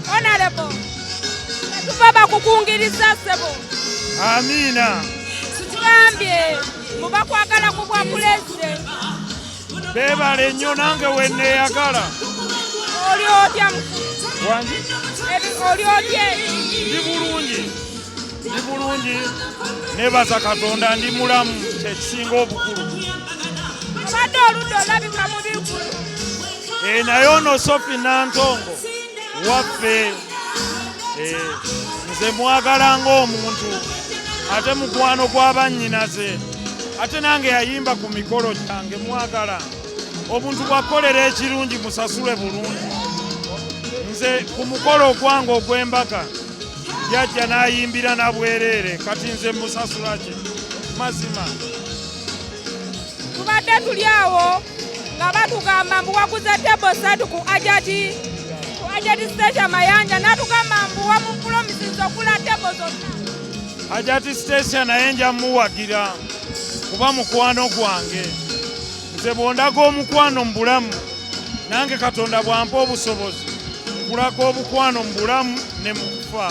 Honorable, tetuva bakukungiriza ssebo. Amiina. Situgambye mu bakwagala ku bwa pulezidenti. Beebale nnyo nange we nneeyagala. Oli otya mukulu? Wangi. Oli otya? Ndi bulungi. ndi bulungi nebaza katonda ndi mulamu kyekisinga obukulu abadde oludde olabika mu bigulu eh, naye ono sofi nantongo waffe eh, nze mwagala ngaomuntu ate mukwano gw'abannyinaze ate nange yayimba ku mikolo gyange mwagala obuntu bwakukolera ekirungi musasule bulungi nze ku mukolo ogwange ogw'embaga yajja n'ayimbira na bwereere kati nze musasula ki mazima tubadde tuli awo nga batugamba mbu waguze tebo satu ku ajati ku ajati siteesha mayanja natugamba mbu wamupulomisiza okula tebo zonna ajati siteesha naye nja muwagira kuba mukwano gwange nze bw'ondaga omukwano mu bulamu nange katonda bw'ampa obusobozi nkulaga obukwano mu bulamu ne mu kufa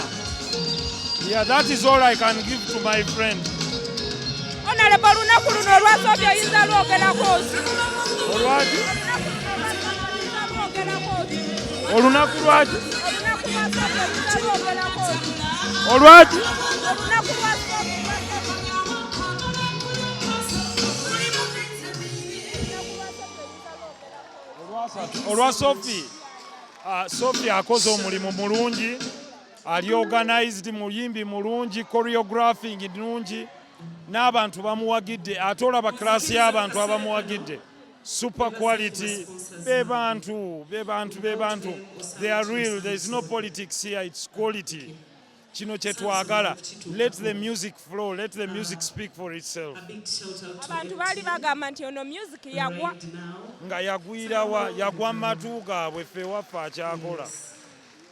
yeah that is all i can give to my friend onalaba olunaku luno olwasoobya oyinza lwogerako ki olwaki olunaku lwaki olwaki olwa sofi ah, sofi akoze omulimu mulungi ali organized muyimbi mulungi choreographing nungi n'abantu bamuwagidde ate olaba class y'abantu abamuwagidde super quality be bantu be bantu be bantu they are real there is no politics here it's quality kino kyetwagala let the music flow let the music speak for itself abantu baali bagamba nti ono music yagwa nga yagwirawa yagwa matu gaabwe ffe waffe akyakola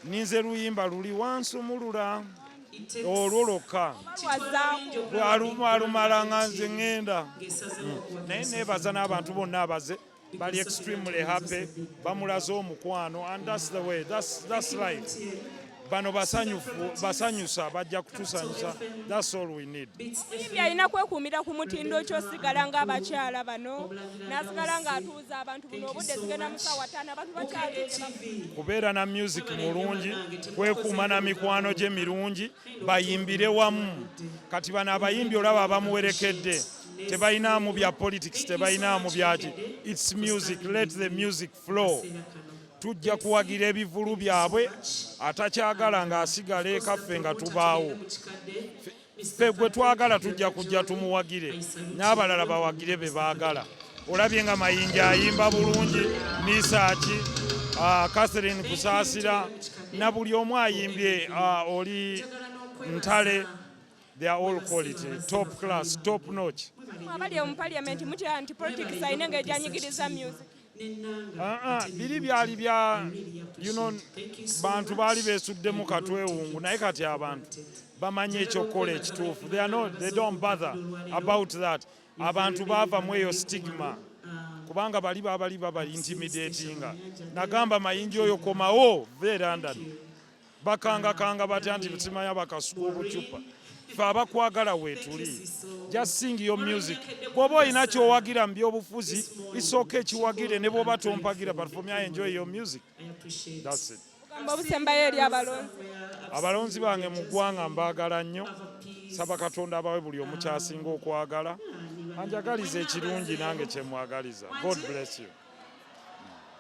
ninze luyimba luli wansumulula olwo lwokka alumala nga nze ŋŋenda naye neebaza n'abantu bonna abaze bali extremely happy bamulaze omukwano and that's the way that's, that's life bano basanyufu basanyusa bajja kutusanyusa that's all we need ibi alina kwekuumira ku mutindo kyosigala nga abakyala bano nasigala nga atuuza abantu buno obudde zigenda musawa tano abantu bakyali kubeera na music mulungi kwekuuma na mikwano gye mirungi bayimbire wamu kati bano abayimbi olaba abamuwerekedde tebalinaamu bya politics tebalinaamu byaki its music let the music flow tujja kuwagira ebivulu byabwe atakyagala ng'asigala ekaffe nga tubaawo ffe gwe twagala tujja kujja tumuwagire n'abalala bawagire be baagala olabye nga mayinja ayimba bulungi misaaki ah, catherine kusaasira na buli omu ayimbye ah, oli ntale They are all quality, top class, top notch. Abali mu parliament mutya anti politics ayina nga ejanyigiriza music. Ah ah, biri byali bya you know bantu bali besuddemu katwewungu naye kati abantu bamanyi ekyokukola ekituufu. They are not, they don't bother about that. Abantu baava mu eyo stigma kubanga bali babali babali intimidatinga nagamba mayinja oyo komawo ve London bakangakanga batya nti nsima yabakasuka obucupa fe abakwagala wetuli just sing your music bwoba olina kyowagira mu byobufuzi isooka ekiwagire ne bwoba tompagira but for me i enjoy your music that's it obusembayo eri abalonzi abalonzi bange mu ggwanga mbaagala nnyo saba katonda abawe buli omukyasinga okwagala anjagaliza ekirungi nange kyemwagaliza god bless you